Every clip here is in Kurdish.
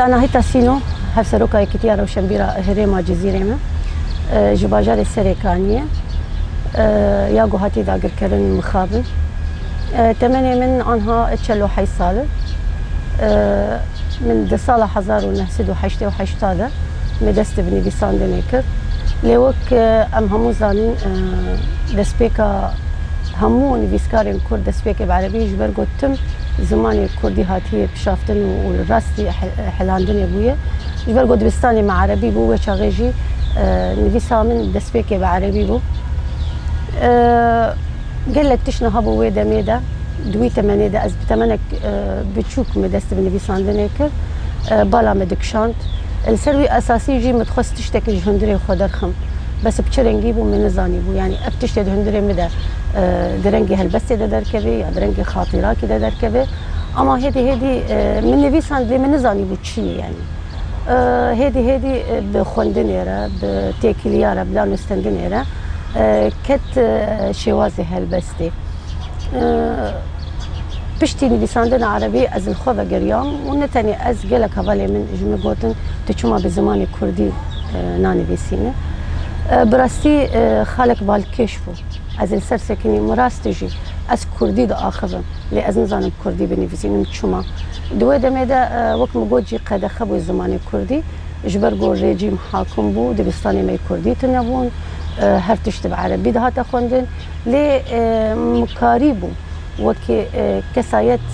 Anahîta Sîno, Hevseroka Yekîtiya Rewşenbîra Herêma Cizîrê me ji bajarê Serê Kaniyê ye. Ya ku hatî dagirkirin mixab in. Temenê min anha çel û heşt sal in. Min di sala hezar û neh sed û heştê û heşta de me dest bi nivîsandinê kir. Lê wek em hemû zanin destpêka hemû nivîskarên kurd destpêkê bi erebî ye ji ber ku tim zimanê kurdî hatiye kişaftin û li rastî helandinê bûye. Ji ber ku dibistanê me erebî bû wê çaxê jî nivîsa min destpêkê bi erebî bû. Gelek tişt niha bû wê demê de di wî temenê de ez bi temenek biçûk me dest bi nivîsandinê kir. Bala me dikişand. Li ser wî esasî jî min dixwest tiştekî ji hundirê xwe derxim. Bes bi çi rengî bû min nizanîbû. Yanî ev tiştê di hundirê min de. di rengê helbestê de derkeve ya di rengê xatîrakê de derkeve. Ama hêdî hêdî min nivîsand lê min nizanîbû çi ye yanî. Hêdî hêdî bi xwendinê re, bi têkiliya re, bi danûstendinê re ket şêwazê helbestê. Piştî nivîsandina erebî ez li xwe vegeriyam û ne tenê ez gelek hevalên min ji min gotin tu çima bi zimanê kurdî nanivîsî min. Bi rastî xalek balkêş bû. Ez li ser sekinî min rastî jî ez kurdî diaxivim lê ez nizanim kurdî binivîsînim çima. Di wê demê de wek min got jî qedexe bû zimanê kurdî ji ber ku rejîm hakim bû dibistanê me kurdî tune bûn her tişt bi erebî dihate xwendin lê min karîbû wekî kesayet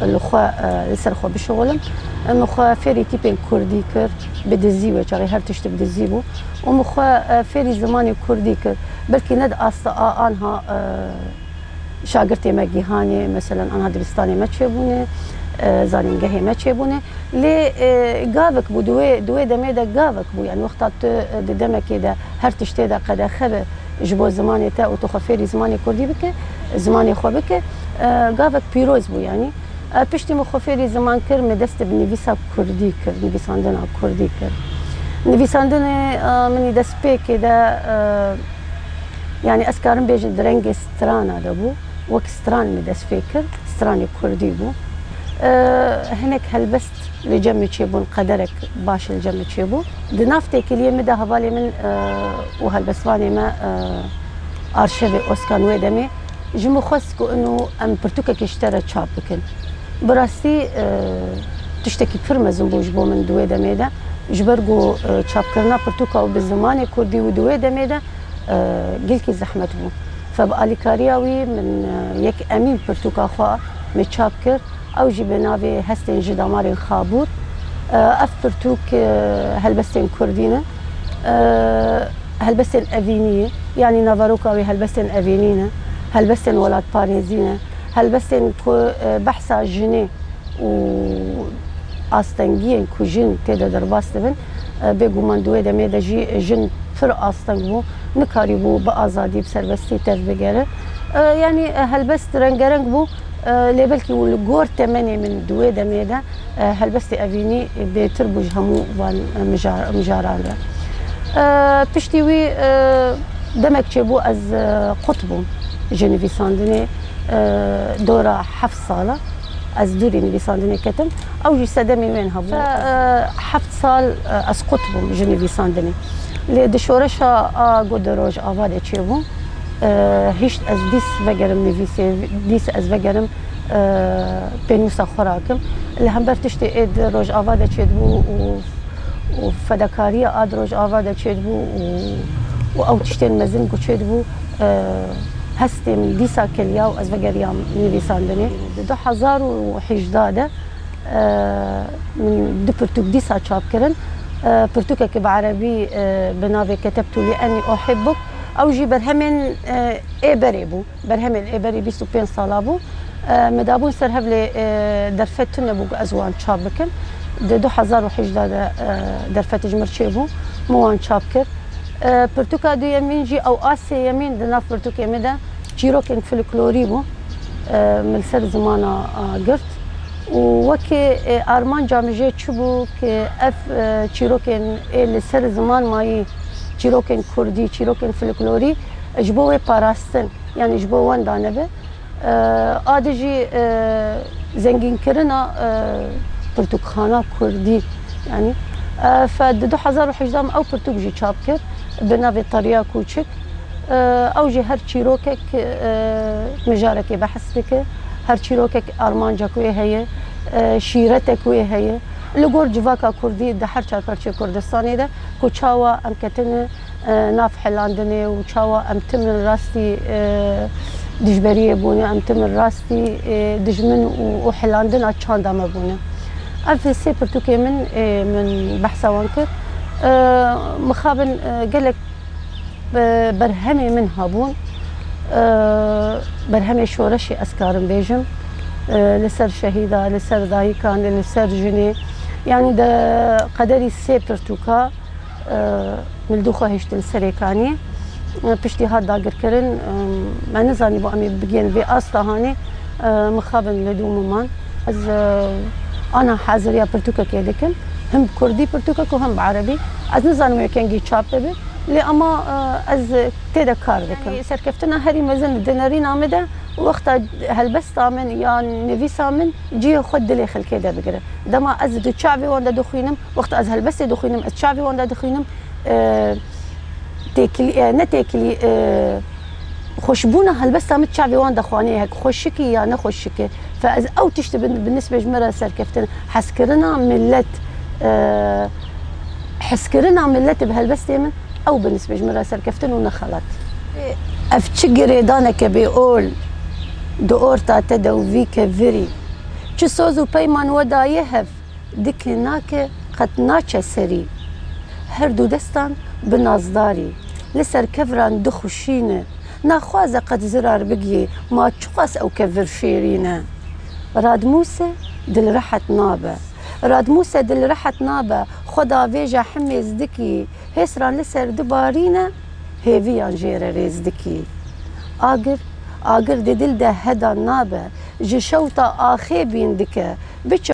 li xwe li ser xwe bişixilim min xwe fêrî tîpên kurdî kir bi dizî wê çaxê her tişt bi dizî bû. Û min xwe fêrî zimanê kurdî kir. Belkî ne di asta a anha şagirtê me Gîhanê meselen anha dibistanê me çêbûne, zanîngehê me çêbûne. Lê gavik bû, di wê di wê demê de gavik bû. Yanî wexta tu di demekê de her tiştê de qedexe be ji bo zimanê te û tu xwe fêrî zimanê kurdî bike, zimanê xwe bike, gavik pîroz bû yanî. Piştî min xwe fêrî ziman kir, min dest bi nivîsa kurdî kir, nivîsandina kurdî kir. Nivîsandinê minî destpêkê de yanî ez karim bêjin di rengê strana de bû. Wek stran min dest pê kir, stranê kurdî bû. Hinek helbest li cem min çêbûn, qederek baş li cem min çêbû. Di nav têkiliyê min de hevalê min û helbestvanê me arşevê Oskan wê demê Ji min xwest ku ino em pirtûkekê ji te re çap bikin. Bi rastî tiştekî pir mezin bû ji bo min di wê demê de. Ji ber ku çapkirina pirtûka wî bi zimanê kurdî û di wê demê de gelkî zehmet bû. Fe bi alîkariya wî min yek Emîn pirtûka xwe me çap kir. Ew jî bi navê Hestên ji Damarên Xabûr, Ev pirtûk helbestên kurdî ne. Helbestên evînî ye. Yanî naveroka wê helbestên evînî ne. Helbestên welatparêzî ne. Helbestên ku behsa jinê û astengiyên ku jin tê de derbas dibin. Bêguman di wê demê de jî jin pir asteng bû. Nikarîbû bi azadî, bi serbestî tev bigere. Yanî helbest rengereng bû. Lê belkî û li gor temenê min di wê demê de helbestî evînî bêtir bû ji hemû van mijaran re. Piştî wî demek çêbû ez qut bûm ji nivîsandinê dora heft sal e ez dûrî nivîsandinê ketim ew jî sedemê wê hebû. Heft sal ez qut bûm ji nivîsandinê lê di şoreşa a ku di Rojava de çêbû, Hişt ez dîs vegerim nivîsê, dîs ez vegerim pênûsa xwe rakim. Li hember tiştê ê di Rojava de çêdibû û fedakariya a di Rojava de çêdibû û ew tiştên mezin ku çêdibû hestê min dîsa kiliya û ez vegeriyam nivîsandinê. Di du hezar û hîjda de min du pirtûk dîsa çap kirin. Pirtûkeke bi erebî bi navê Ketebtu li enni uhibbuk. Ew jî berhemên ê berê bû. Berhemên ê berê bîst û pênc sala bû. Me dabûn ser hev lê derfet tune bû ku ez wan çap bikim. Di du hezar û hejdeh de derfet ji mir çêbû. Min wan çap kir. Pirtûka duyemîn jî ew a sêyemîn di nav pirtûkê min de çîrokên filiklorî bû li ser zimana gird. Û wekî armanca min jê çibû ke ev çîrokên ê li ser ziman mayî, çîrokên kurdî, çîrokên filiklorî ji bo wê parastin yanî ji bo wan dane be. A di jî zengînkirina pirtûkxana kurdî yanî ev di du hezar û hejdeh me ew pirtûk jî çap kir bi navê Tariya Kûçik. Ew jî her çîrokek mijarekê behs dike. Her çîrokek Armanca ku ê heye, şîrete ku ê heye li gor civaka kurdî di her çar parçeyê Kurdistanê de ku çawa em ketine nav helandinê û çawa em tim in rastî dijberiyê bûne, em tim in rastî dijmin û helandina çanda me bûne. Ev sê pirtûkên min ê min behsa wan kir. Mixabin gelek. Bi berhemê min hebûn, berhemê şoreşê ez karim bêjim li ser şehîda, li ser dayikan, li ser jinê yanî di qederî sê pirtûka min li dû xwe hiştin Serêkaniyê. Piştî hat dagirkirin me nizanîbû em ê bigihên vê asta hanê mixabin li dû miman. Ez ana haziriya pirtûkekê dikim. Him bi kurdî pirtûkek û him bi erebî. Ez nizanim wê kengî çap bibe. Lê ama ez tê de kar dikim. Di serkeftina herî mezin di nêrîna min de û wexta helbesta min ya nivîsa min cihê xwe dilê xelkê de bigire. Dema ez di çavê wan de dixwînim, wexta ez helbestê dixwînim, ez çavê wan de dixwînim têkilî ne têkilî xweşbûna helbesta min çavê wan de xaneyek xweşik e ya ne xweşik e. Fa ez ew tiştê bi nisbê ji me re serkeftin e. Hezkirina milet hezkirina miletê bi helbestê min ew bi nisbê ji me re serkeftin û ne xelat. Ev çi girêdaneke bê ol di orta te de û vî ke virî çi soz û peyman we daye hev dike nake qet naçe serî. Her du destan bi nazdarî li ser kevran dixuşîne. Naxwaze qet zirar bigiyê, ma çiqas ew ke vir şêrîn e. Radmûse dilrehet nabe. Radmûse dilrehet nabe, xwe davêje himêz dikî, hêsran li ser di barîne, hêviyan jê re rêz dikî. Agir, agir di dil de heda nabe, ji şewta axê bîn dike, biçe.